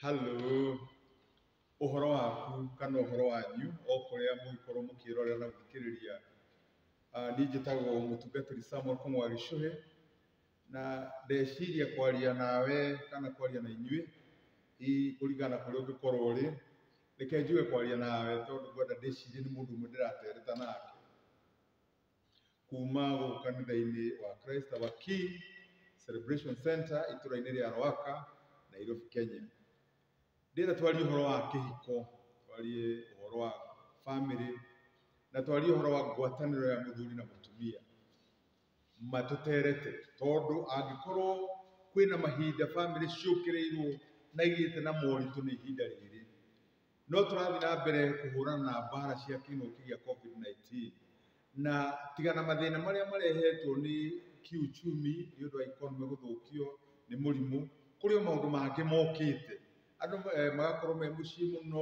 Halloo, ũhoro waku kana ũhoro wanyu o kũrĩa mũngĩkorwo mũkĩrorera na gũthikĩrĩria. Ah, Niĩ njĩtagwo mũtungatĩri Samuel Kũng'wa Gĩchũhĩ, na ndeciria kwaria nawe kana kwaria na inyuĩ, hihi kũringana na kũrĩa ũngĩkorwo ũrĩ, reke njuge kwaria nawe tondũ ngwenda ndĩcirie nĩ mũndũ ũmwe ndĩratereta nake. kuma gũkũ kanitha-inĩ wa Christ Our King Celebration Center itũra-inĩ rĩa Rwaka, Nairobi, Kenya. Ndĩrenda twarie ũhoro wa kĩhiko, twarie ũhoro wa family, na twarie ũhoro wa ngwatanĩro ya mũthuri na mũtumia matũterete, tondũ angĩkorwo kwĩna mahinda family ciũkĩrĩirwo na igĩte na moritũ nĩ ihinda rĩrĩ. No tũrathiĩ na mbere kũhũrana na mbara cia kĩng'ũki gĩa COVID-19 na tiga na mathĩna marĩa marehetwo nĩ kiuchumi nĩ ũndũ wa economy gũthũkio nĩ mũrimũ, kũrĩ o maũndũ mangĩ mokĩte. Andũ magakorwo me mũciĩ mũno,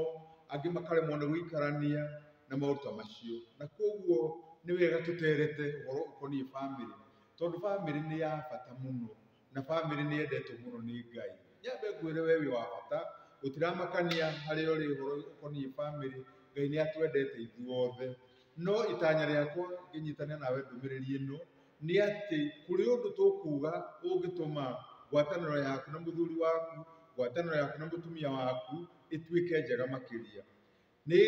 angĩ makaremwo nĩ gũikarania na maũndũ ta macio. Na kũguo nĩ wega tũterete ũhoro ũkoniĩ bamĩrĩ, tondũ bamĩrĩ nĩ ya bata mũno. na bamĩrĩ nĩ yendetwo mũno nĩ Ngai. Nyambe ngwĩre we wĩ wa bata, gũtiramakania harĩa ũrĩ ũhoro ũkoniĩ bamĩrĩ, Ngai nĩ atwendete ithuothe. No itanya rĩakwa ngĩnyitane nawe ndũmĩrĩri ĩno, nĩ atĩ kũrĩ ũndũ tũkuga ũngĩtũma ngwatanĩro yaku na mũthuri waku, ngwatanĩro yaku na mũtumia waku ĩtuĩke njega makĩria. Nĩ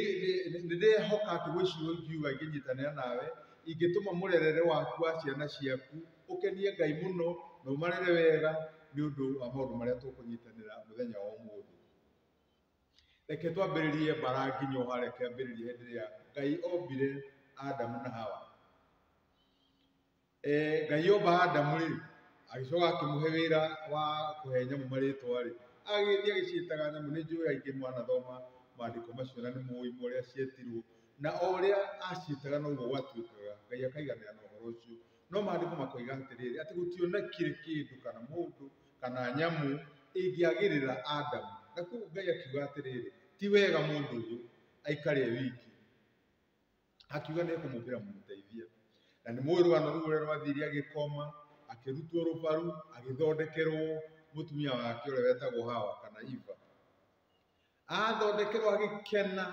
ndĩrehoka atĩ gwĩciria ingiuga ingĩnyitanĩra nawe, ingĩtũma mũrerere waku wa ciana ciaku ũkenie Ngai mũno na ũmarere wega nĩ ũndũ wa maũndũ marĩa tũkũnyitanĩra mũthenya wa ũmũthĩ. Reke twambĩrĩrie mbara nginya o harĩa kĩambĩrĩria hĩndĩ ĩrĩa Ngai ombire Adamu na Hawa. Eh, ngai omba adamu rĩ agĩcoka akĩmũhe wĩra wa kũhe nyamũ marĩtwa rĩ agĩthiĩ agĩciĩtaga nyamũ nĩ njũĩ aingĩ mwanathoma maandĩko macio na nĩ mũĩ ũrĩa cietirwo na o ũrĩa aciĩtaga noguo gwatuĩkaga ngai akaiganĩra na ũhoro ũcio no maandĩko makoiga atĩrĩrĩ atĩ gũtionekire kĩndũ kana mũndũ kana nyamũ ĩngĩagĩrĩra adamu na kũu ngai akiuga atĩrĩrĩ ti wega mũndũ ũyũ aikare e wiki akiuga nĩ ekũmũkĩra mũmũteithia na nĩ mũĩ rũgano rũu ũrĩa rwathire agĩkoma akĩrutwo rũbaru agĩthondekerwo mũtumia wake ũrĩa wetagwo hawa kana iva athondekerwo agĩkena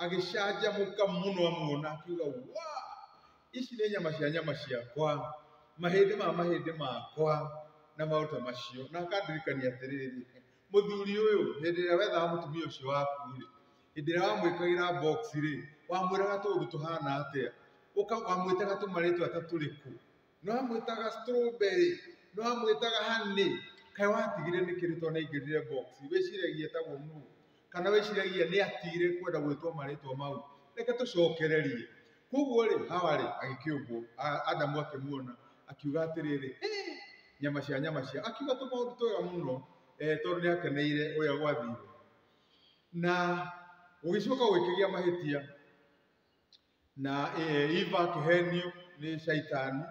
agĩcanjamũka mũno amuona akiuga wa ici nĩ nyama cia nyama ciakwa mahĩndĩ ma mahĩndĩ makwa na maũta macio na akandirikania atĩrĩrĩ mũthuri ũyũ hĩndĩ ĩrĩa wethaga mũtumia ũcio waku rĩ Hĩndĩ ĩrĩa wamwĩkagĩra box rĩ, wamwĩraga tũũndũ tũhana atĩa? Ũka wamwĩtaga tũmarĩtwa ta tũrĩkũ? Nĩ wamwĩtaga strawberry? Nĩ wamwĩtaga honey? Kaĩ watigire nĩ kĩĩ tondũ nĩ aingĩrire box? Wĩciragia etagwo nũũ? Kana wĩciragia nĩ atigire kwenda gwĩtwo marĩtwa mau? Reke tũcokererie. Kwoguo rĩ, Hawa rĩ, agĩkĩũmbwo, a- Adamu akĩmuona, akiuga atĩrĩrĩ, "Hĩ, nyama cia nyama cia. Akiuga tũmaũndũ twega mũno eh, tondũ nĩ akeneire ũrĩa gwathire. na gũgĩcoka gũgĩkĩgĩa mahĩtia na eh, Eva akĩhenio nĩ shaitani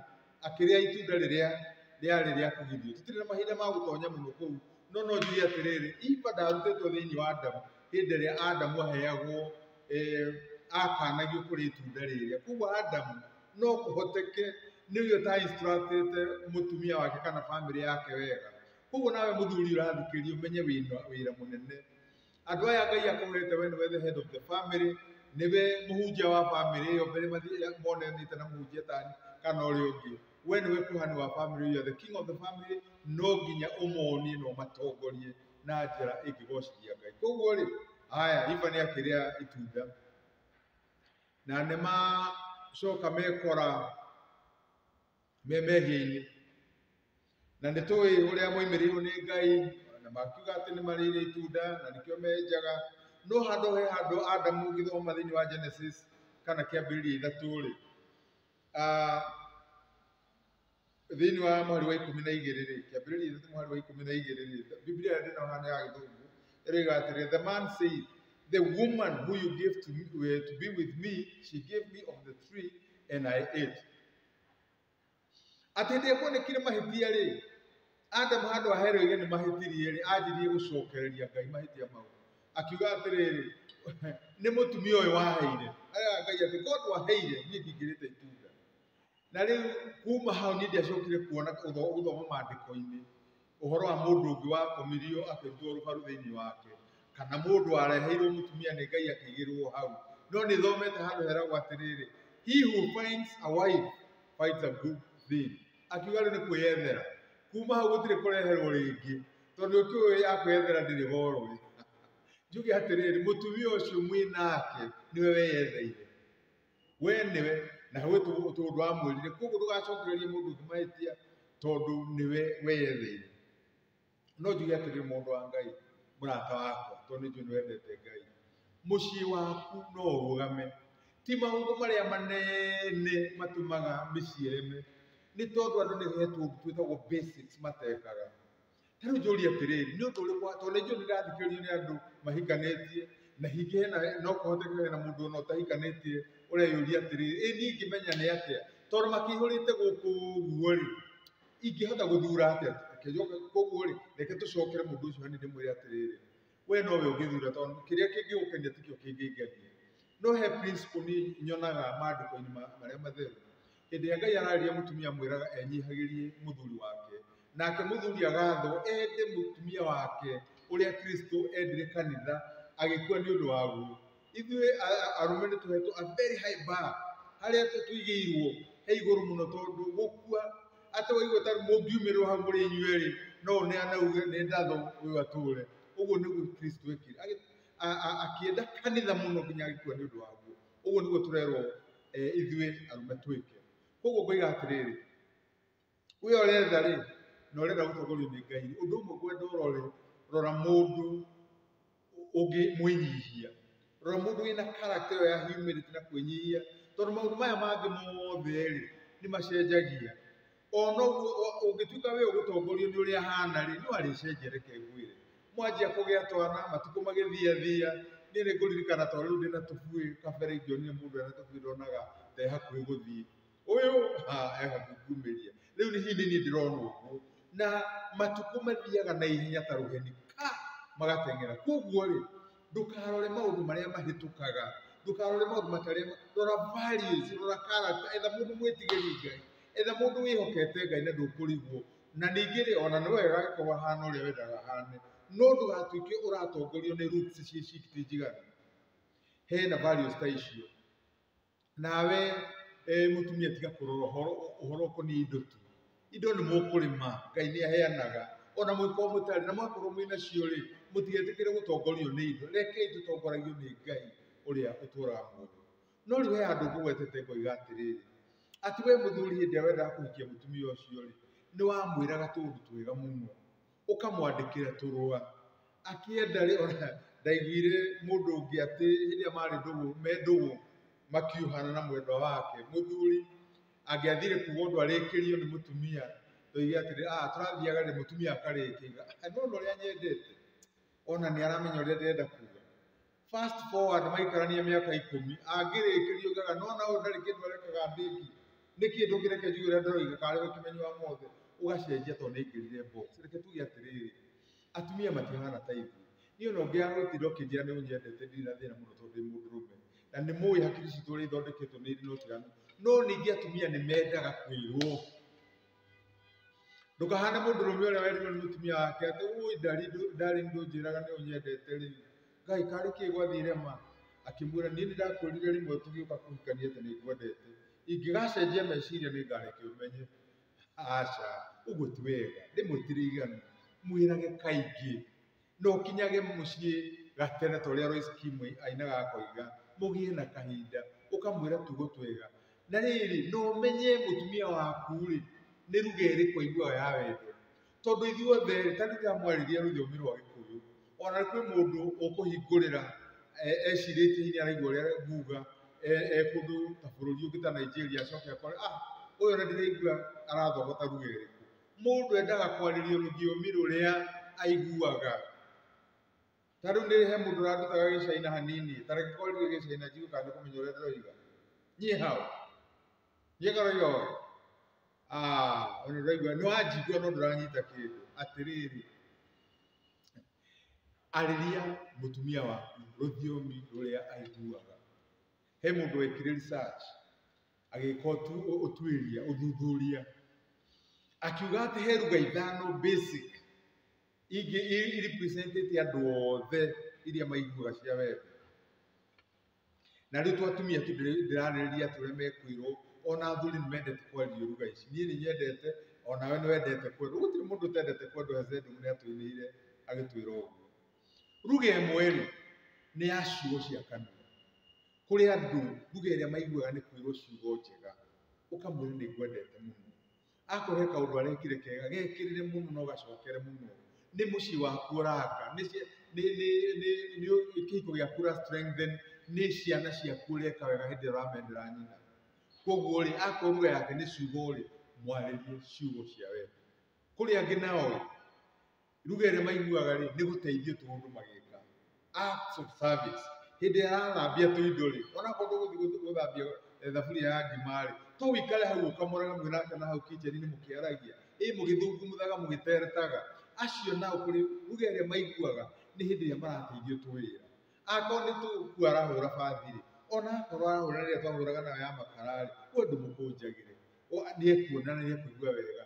akĩrĩa itunda rĩrĩa rĩarĩ rĩa kũgithio tũtirĩ na mahinda ma gũtonya mũno kũu no no njuge atĩrĩrĩ Eva ndarutĩtwo thĩinĩ wa Adamu hĩndĩ ĩrĩa Adamu aheagwo eh, akanagio kũrĩ itunda rĩrĩa koguo Adamu no kũhoteke nĩwe ũta instructĩte mũtumia wake kana bamĩrĩ yake wega koguo nawe muthuri ũrathikĩrĩria ũmenye wĩna wĩra mũnene andũ aya ngai akũhete we nĩwe the head of the family nĩwe mũhunjia wa family ĩyo mbere mathiĩ monanĩte na mũhunjia tani kana ũrĩa ũngĩ we nĩwe kuhani wa family you are the king of the family no nginya ũmonie na ũmatongorie na njĩra ĩngĩgocithia ngai koguo rĩ haya iva nĩ akĩrĩa itunda na nĩ macoka mekora me mehia-inĩ na nĩ tũĩ ũrĩa moimĩrĩirwo nĩ ngai na makiuga atĩ nĩ marĩire itunda na nĩkĩo menjaga no handũ he handũ adamu ũngĩthoma thĩinĩ wa genesis kana kĩambĩrĩria ithatũ rĩ ah, thĩinĩ wa mũhari wa ikũmi na igĩrĩ rĩ kĩambĩrĩria ithatũ mũhari wa ikũmi na igĩrĩ rĩ biblia ĩrĩa ndĩna hana ya gĩthũngũ ĩroiga atĩrĩ the man said the woman who you gave to, me, eh, to be with me she gave me of the tree and i ate atĩ ndĩ kuonekire mahĩtia rĩ Adamu handũ aherwo ige nĩ mahĩtirie rĩ anjirie gũcokereria Ngai mahĩtia mau akiuga atĩrĩrĩ nĩ mũtumia ũyũ waheire aya Ngai atĩ korwo ndwaheire niĩ ndingĩrĩte itunda na rĩu kuma hau niĩ ndiacokire kuona gũthoma maandĩko-inĩ ũhoro wa mũndũ ũngĩ wakomirio akĩrutwo rũbaru thĩinĩ wake kana mũndũ wareheirwo mũtumia nĩ ngai akĩigĩrwo hau no nĩ thomete handũ heragwo atĩrĩrĩ he who finds a wife finds a good thing akiuga rĩu nĩ kwĩyethera kuma hau gũtirĩ kũreherwo rĩngĩ tondũ ũkĩũĩ ya kwĩyethera ndĩrĩ gorwe njuge atĩrĩrĩ mũtumia ũcio mwĩ nake nĩwe weyetheire we nĩwe na we tondũ wamwĩrire koguo ndũgacokererie mũndũ ũngĩ mahĩtia tondũ nĩwe weyetheire no njuge atĩrĩrĩ mũndũ wa ngai mũrata wakwa tondũ nĩnjũĩ nĩ wendete ngai mũciĩ waku no ũrũgame ti maũndũ marĩa manene matũmaga mĩciĩ ĩreme nĩ tondũ andũ nĩ hetwo ũndũ twĩtagwo basics matekaga ta rĩu njũrie atĩrĩrĩ nĩ ũndũ ũrĩkũ tondũ nĩ njũĩ nĩ ndĩrathikĩrĩrio nĩ andũ mahikanĩtie na hingĩ hena no kũhoteke hena mũndũ ona ũtahikanĩtie ũreyũria atĩrĩrĩ ĩ niĩ ingĩmenya nĩ atĩa tondũ makĩihũrĩte gũkũ ũguo rĩ ingĩhota gũthura atĩa Reke njoke koguo rĩ reke tũcokere mũndũ ũcio hanini ndĩmwĩre atĩrĩrĩ we nowe ũngĩthura tondũ kĩrĩa kĩngĩgũkenia tikĩo kĩngĩngenia no he principle niĩ nyonaga maandĩko-inĩ ma- marĩa matheru Hĩndĩ ĩrĩa Ngai ararĩria mũtumia amwĩraga enyihagĩrie mũthuri wake, nake mũthuri agathwo ende mũtumia wake ũrĩa Kristo endire kanitha agĩkua nĩ ũndũ waguo. Ithuĩ arũme nĩ tũhetwo a very high bar harĩa tũigĩirwo he igũrũ mũno tondũ gũkua atĩ waigua ta mũngiumĩrĩrwo hau mũrĩ inyuerĩ no one anauge nĩ ndathũ ũyũ atũre. Ũguo nĩguo Kristo ekire akĩenda kanitha mũno nginya agĩkua nĩ ũndũ waguo. Ũguo nĩguo tũrerwo eh, ithuĩ arũme twĩke. Koguo ngoiga atĩrĩrĩ, we ũretha rĩ, na ũrenda gũtongorio nĩ Ngai, ũndũ ũmwe ngwenda ũrore, rora mũndũ ũngĩ mwĩnyihia, rora mũndũ wĩna character ĩyo ya humility na kwĩnyihia, tondũ maũndũ maya mangĩ mothe rĩ, nĩ macenjagia. ona ũngĩtuĩka wĩ ũgũtongorio nĩ ũrĩa hana rĩ no arĩcenjia reke ngwĩre mwanjia kũgĩa twana matukũ magĩthia thia niĩ nĩ ngũririkana tondũ rĩu ndĩna tũbuĩ kabere ingĩonire mũndũ ena tũbuĩ ndonaga te hakuhĩ gũthiĩ ũyũ ha e hakuhĩ kumĩria rĩu nĩ hihi nĩ niĩ ndĩrona ũguo na matukũ mathiaga na ihenya ta rũheni ka magateng'era koguo rĩ ndũkarore maũndũ marĩa mahĩtũkaga ndũkarore maũndũ matarĩa rora values rora character etha mũndũ mwĩtigĩri ngai Etha mũndũ wĩhokete Ngai na ndũkũrigwo, na ningĩ rĩ, ona nĩ wega agĩkorwo ahana ũrĩa wendaga ahane, no ndũgatuĩke ũratongorio nĩ roots cia iciki ti njiganu. Hena values ta icio. Nawe eh, mũtumia tiga kũrora ũhoro ũhoro ũkoniĩ indo tu. Indo nĩ mũkũrĩma, Ngai nĩ aheanaga. Ona mũngĩkorwo mũtarĩ na mwakorwo mwĩ nacio rĩ, mũtigetĩkĩre gũtongorio nĩ indo. Rekei tũtongoragio nĩ Ngai ũrĩa ũtũũraga muoyo. No rĩ we andũ ngũgwetete ngoiga atĩrĩrĩ, atĩ we mũthuri hĩndĩ ĩrĩa wendaga kũhikia mũtumia ũcio-rĩ, nĩwamwĩraga tũũndũ twega mũno, ũkamwandĩkĩra tũrũa. Akĩenda-rĩ, ona ndaiguire mũndũ ũngĩ atĩ hĩndĩ ĩrĩa marĩ ndũgũ, me ndũgũ makiuhana na mwendwa wake, mũthuri angĩathire kuga ũndũ arĩkĩrio nĩ mũtumia, oige atĩrĩ, ah tũrathiaga-rĩ, mũtumia akarĩkia, auga, nĩwona ũrĩa nyendete, ona nĩaramenya ũrĩa ndĩrenda kuga. fast forward maikarania mĩaka ikũmi angĩrĩkĩrio gaga no na ũyũ ndarĩ kĩndũ arekaga ndĩki nĩ kĩndũ kĩreke njui ũrĩa ndĩroiga karĩ gũkĩmenya wa mothe ũgacenjia tondũ nĩ ngĩrire box reke tuge atĩrĩrĩ atumia matihana ta ithuĩ niĩ ona ũngĩagwĩtire ũkĩnjĩra nĩ ũnyendete ndirĩ na thĩna mũno tondũ ndĩ mũndũrũme na nĩ mũĩ hakiri citũ ũrĩa ithondeketwo nĩ irĩ na ũtiganu no ningĩ atumia nĩ mendaga kwĩrwo ndũkahane mũndũrũme ũrĩa werirwo nĩ mũtumia wake atĩ ũĩ ndari ndari ndũnjĩraga nĩ ũnyendete rĩ ngai karĩ kĩ gwathire ma akĩmwĩra niĩ nĩndakwĩrire rĩmwe tũgĩũka kũhikania atĩ nĩngwendete ingĩgacenjia meciria nĩngareke ũmenye aca ũguo ti wega rĩmwe ti rĩiganu mwĩrage kaingĩ No ũkinyage mũciĩ gatene ta ũrĩa Royce Kimu ainaga akoiga, mũgĩe na kahinda, ũkamwĩra tugo twega. Na rĩrĩ, na ũmenye mũtumia waku-rĩ, nĩ ruga ĩrĩkũ aiguaga ya wendo. Tondũ ithuothe rĩ, ta rĩu rĩrĩa mwarĩrĩria rũthiomi rwa Gĩkũyũ, ona kwĩ mũndũ ũkũhingũrĩra ecirĩtie hihi nĩ araigua ũrĩa nguga e kũndũ ta bũrũri ũngĩ ta Nigeria acoke akore, ah, ũyũ ona ndiraigua arathogota ruga ĩrĩkũ. Mũndũ endaga kwarĩrio rũthiomi rũrĩa aiguaga. Ta rĩu nĩ he mũndũ ũrandutaga gĩcaina hanini, ta reke kwarĩrio gĩcaina njigue kana nĩ kũmenya ũrĩa ndĩroiga. Niĩ hau. Niĩ karoiga ũũ. Ah, ona ũraigua nĩ wanjigua no ndũranyita kĩndũ. Atĩrĩrĩ, arĩria mũtumia waku rũthiomi rũrĩa aiguaga. He mũndũ wekire research agĩka ũtu- ũ- ũtuĩria ũthuthuria akiuga atĩ he ruga ithano basic ingĩ i- i representĩte andũ othe iria maiguaga cia wendo na rĩu tu atumia tu ndĩ- ndĩrarĩrĩria atĩ ũrĩa mekwĩrwo ona athuri nĩ mendete kwaria ruga ici niĩ nĩ nyendete onawe nĩ wendete kwendwo gũtirĩ mũndũ ũtendete kwendwo hezendum nĩ atwĩrĩire agĩtwĩra ũguo ruga ĩmwe rĩ nĩ ya ciugo cia kanua Kũrĩ andũ lugha ĩrĩa maiguaga nĩ kwĩrwo ciugo njega, ũkamwĩra nĩ ngwendete mũno. Akorwo he kaũndũ arekire kega, gekĩrĩre mũno na ũgacokere mũno. Nĩ mũciĩ waku ũraka, nĩ kĩhiko gĩaku ũra strengthen, nĩ ciana ciaku ũreka wega hĩndĩ ĩrĩa ũramendera nyina. Kũguo rĩ, akorwo lugha yake nĩ ciugo rĩ, mwarĩrie ciugo cia wendo. Kũrĩ angĩ nao rĩ, ruga ĩrĩa maiguaga rĩ nĩ gũteithio tu mũndũ magĩka acts of service hĩndĩ ĩrĩa arathambia tũ indo rĩ onakorwo ndũgũthiĩ gũthambia eh, thaburia ya ngima rĩ to wĩikare hau ũkamũraga mwĩ nake na hau kicheni-inĩ mũkĩaragia ĩ mũgĩthungumuthaga mũgĩteretaga acio nao kũrĩ ruga ĩrĩa maiguaga nĩ hĩndĩ ĩrĩa marateithio tũ wĩra akorwo nĩ tũkuo arahũra bathi rĩ ona akorwo arahũra rĩrĩa twahũraga nayo ya makara rĩ we ndũmũkũnjagĩre O- nĩekuona na nĩekũigua wega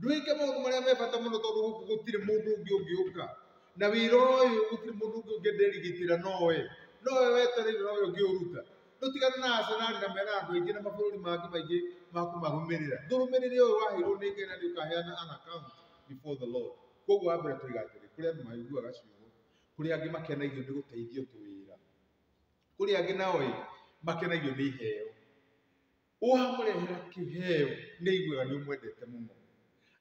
ndwĩke maũndũ marĩa me bata mũno tondũ gũkũ gũtirĩ mũndũ ũngĩ ũngĩũka na wĩra ũyũ gũtirĩ mũndũ ũngĩ ũngĩnderigitĩra no we no we wetereire no we ũngĩũruta tũtigane na asenari na mena andũ aingĩ na mabũrũri mangĩ maingĩ ma kũmarũmĩrĩra ndũrũmĩrĩre ũyũ waheirwo nĩ ngai na nĩ ũkaheana an account before the lord koguo wa mbere tũiga atĩrĩ kũrĩ andũ maiguaga ciugo kũrĩ angĩ makenagio nĩ gũteithio tũwĩra kũrĩ angĩ nao ĩ makenagio nĩ iheo Ũwamũrehera kĩheo nĩ aiguaga nĩ ũmwendete mũno.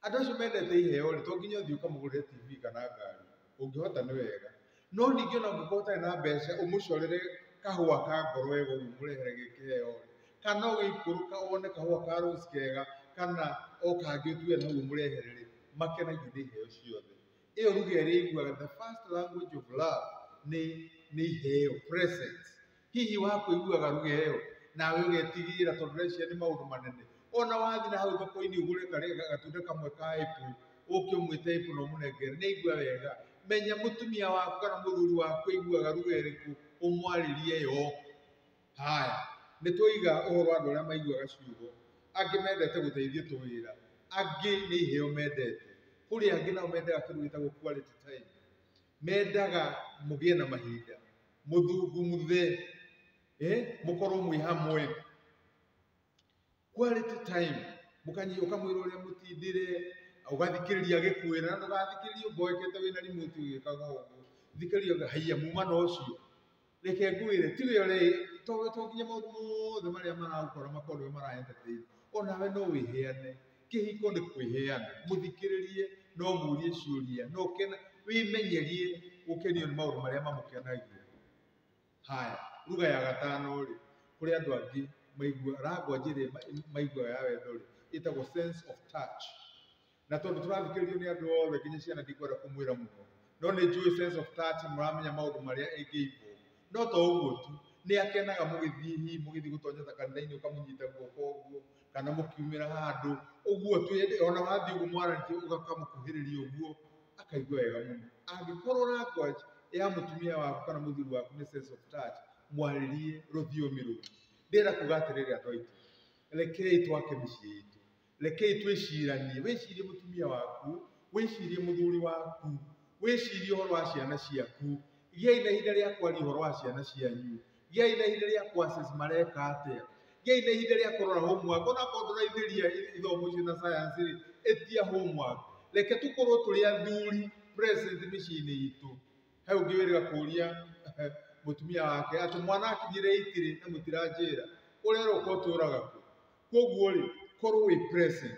Andũ acio mendete iheo rĩ, to nginya ũthiĩ ũkamũgũrĩre TV kana ngari, ũngĩhota nĩ wega. No ningĩ ona ũngĩkorwo ũtarĩ na mbeca ũmũcorere kahũa ka ngoro wega ũguo ũmũrehere ge kĩheo rĩ, kana ũgĩikũrũka wone kahũa ka rose kega kana o kangĩ ũtue nĩ hau ũmũrehere rĩ, makenagio nĩ iheo ciothe. Ĩyo lugha ĩrĩa ĩiguaga, the first language of love nĩ nĩ iheo, presents. hihi wa kũiguaga ruga ĩyo nawe ũgetigĩra tondũ ũreciria nĩ maũndũ manene ona wathiĩ na hau thoko-inĩ ũgũre karĩa gatunda kamwe ka ĩpũ ũke ũmwĩte ĩpũ na ũmũnengere nĩ aigua wega menya mũtumia waku kana mũthuri waku aiguaga ruga ĩrĩkũ ũmwarĩrie yo haya nĩ twoiga ũhoro wa andũ arĩa maiguaga ciugo angĩ mendete gũteithio tũwĩra angĩ nĩ iheo mendete kũrĩ angĩ nao mendaga kĩndũ gĩtagwo quality time mendaga mũgĩe na mahinda mũthungumuthe eh, mũkorwo mwĩ hamwe quality time mũkanyi ũkamwĩra ũrĩa mũtindĩre ũgathikĩrĩria gĩkwĩra na ndũgathikĩrĩria ũmboekete wĩna remote ũgĩkaga ũguo thikĩrĩria haiya muma na ũcio reke ngwĩre ti we ũre to to nginya maũndũ mothe marĩa maragũkora makorwo nĩwe mara entertain onawe no wĩheane kĩhiko nĩ kwĩheana mũthikĩrĩrie no mũrie ciũria no kena wĩmenyerie gũkenio nĩ maũndũ marĩa mamũkenagia haya ruga ya gatano rĩ kũrĩ andũ angĩ maigua rango njĩrĩ maigua ya wendo rĩ ĩtagwo sense of touch na tondũ tũrathikĩrĩrio nĩ andũ othe nginya ciana ndikwenda kũmwĩra mũno no nĩ njũĩ sense of touch mũramenya maũndũ marĩa ĩngĩimbwo no to ũguo tu nĩ akenaga mũgĩthiĩ hihi mũgĩthiĩ gũtonyota kanitha-inĩ ũkamũnyita guoko ũguo kana mũkiumĩra handũ ũguo twende ona wathiĩ ũguo mwaranĩtie ũgakamũkuhĩrĩria ũguo akaigua wega mũno angĩkorwo language ya mũtumia waku kana mũthuri waku nĩ sense of touch mwarĩrie rũthiomi rũu ndĩrenda kuga atĩrĩrĩ andũ aitũ rekei twake mĩciĩ itũ rekei twĩciranie wĩcirie mũtumia waku wĩcirie mũthuri waku wĩcirie ũhoro wa ciana ciaku gĩai na ihinda rĩa kwaria ũhoro wa ciana cianyu gĩai na ihinda rĩa courses mareka atĩa gĩai na ihinda rĩa kũrora homework ona korwo ndũraithĩria ithomo icio na science rĩ ĩtia homework reke tũkorwo tũrĩ athuri present mĩciĩ-inĩ itũ he ũngĩ wĩrĩga kũria mũtumia wake atĩ mwana akinyire itiri na mũtiranjĩra ũrera ũkotũraga kũ koguo rĩ korwo wĩ present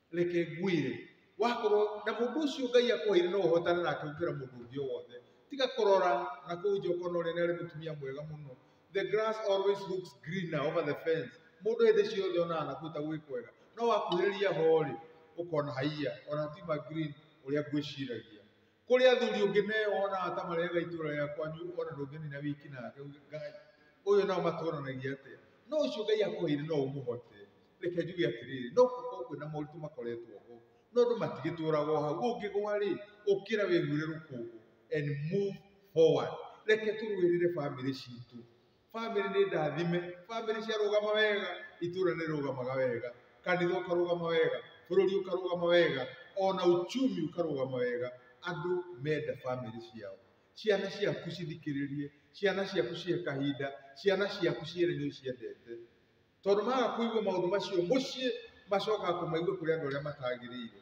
reke ngwĩre, wakorwo, na mũndũ ũcio Ngai akũheire no ũhotane nake gũkĩra mũndũ ũngĩ o wothe. Tiga kũrora na kũu nja ũkona ũrĩa nĩ arĩ mũtumia mwega mũno. The grass always looks greener over the fence. Mũndũ hĩndĩ ciothe onaga na kũu ta gwĩ kwega. No wakuhĩrĩria ho-rĩ, ũkona haiya, ona ti ma green ũrĩa ngwĩciragia. kũrĩ athuri ũngĩ neo onaga ta marĩaga itũra rĩa kwanyu ona ndũngĩnina wiki nake uge ngai ũyũ nao matũranagia atĩa no ũcio ngai akũheire no ũmũhote reke njuge atĩrĩrĩ no gũkorwo kwĩna moritũ makoretwo ho no andũ matigĩtũraga o hau ũngĩgwa rĩ ũkĩra wĩhure rũkũngũ and move forward reke tũrũĩrĩre bamĩrĩ citũ famĩlĩ nĩ ndathime famĩlĩ ciarũgama wega itũra nĩ rĩrũgamaga wega kanitha ũkarũgama wega bũrũri ũkarũgama wega ona uchumi ũkarũgama wega andũ menda famĩlĩ ciao ciana ciaku cithikĩrĩrie ciana ciaku cihe kahinda ciana ciaku ciere nĩ ũciendete tondũ maga kũigua maũndũ macio mũciĩ macokaga kũmaigua kũrĩ andũ arĩa matagĩrĩire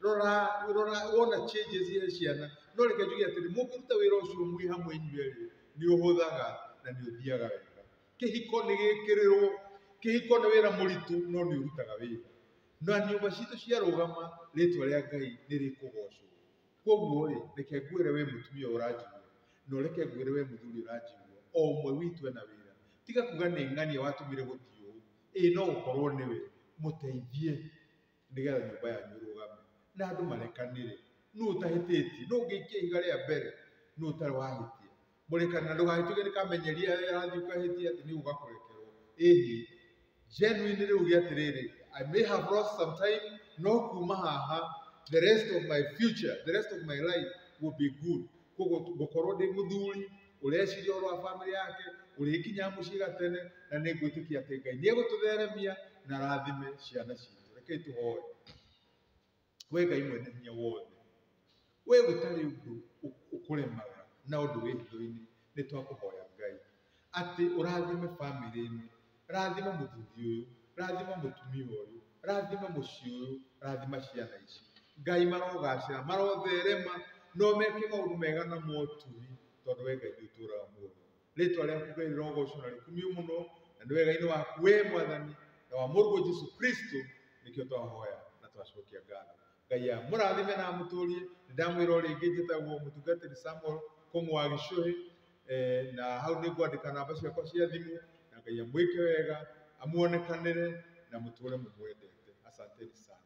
rora rora wona changes ya ciana no reke njuge atĩrĩ mũngĩruta wĩra ũcio mwĩ hamwe inyuĩ erĩ nĩ ũhũthaga na nĩ ũthiaga wega kĩhiko nĩ gĩkĩrĩrwo kĩhiko nĩ wĩra mũritũ no nĩ ũrutaga wĩra na nyũmba citũ ciarũgama rĩtwa rĩa ngai nĩ rĩkũgocwo koguo rĩ reke ngwĩre we mũtumia ũranjigua na ũreke ngwĩre we mũthuri ũranjigua o ũmwe witũ ena wĩra tiga kuga nĩ ng'ania watũmire gũtiũ ĩĩ no gũkorwo nĩwe mũteithie nĩgetha nyũmba yanyu ĩrũgame na andũ marekanĩre nũ ũtahĩtĩtie nũ ũngĩikia ihiga rĩa mbere nũ ũtarĩ wahĩtia Mũrekani, na ndũgagĩtuĩke nĩ kamenyeri arathiĩ ũkahĩtia atĩ nĩ ũgakũrekerwo. Ĩhĩ, genuinely rĩu gĩ atĩrĩrĩ, I may have lost some time, no kuma haha, the rest of my future, the rest of my life will be good. Koguo ngũkorwo ndĩ mũthuri ũreciria ũhoro wa bamĩrĩ yake, ũrĩkinyaga mũciĩ gatene, na nĩ ngwĩtĩkia atĩ Ngai nĩ egũtũtheremia na arathime ciana citũ. Rekei tũhoe. We Ngai mwene hinya wothe, we gũtarĩ ũndũ ũkũremaga na ũndũ wĩ hitho-inĩ, nĩ twakũhoya Ngai atĩ ũrathime bamĩrĩ ĩno, rathima mũthuri ũyũ, rathima mũtumia ũyũ, rathima mũciĩ ũyũ, rathima ciana ici. Ngai marogacĩra, marotherema, no meke maũndũ mega na moturi, tondũ we Ngai nĩ ũtũraga muoyo. rĩtwa rĩaku ngai rĩrogocwo na rĩkumio mũno na nĩ wega-inĩ waku we mwathani na wa mũrũguo jesu kristo nĩkĩo twahoya na twacokia ngatho ngai amũrathime na amũtũrie nĩ ndamwĩra o rĩngĩ njĩtagwo mũtungatĩri samuel kũng'ũ wa gĩcũhĩ eh, na hau nĩ ngwandĩka namba ciakwa cia thimũ na ngai amwĩke wega amuonekanĩre na mũtũre mũmwendete asanteni sana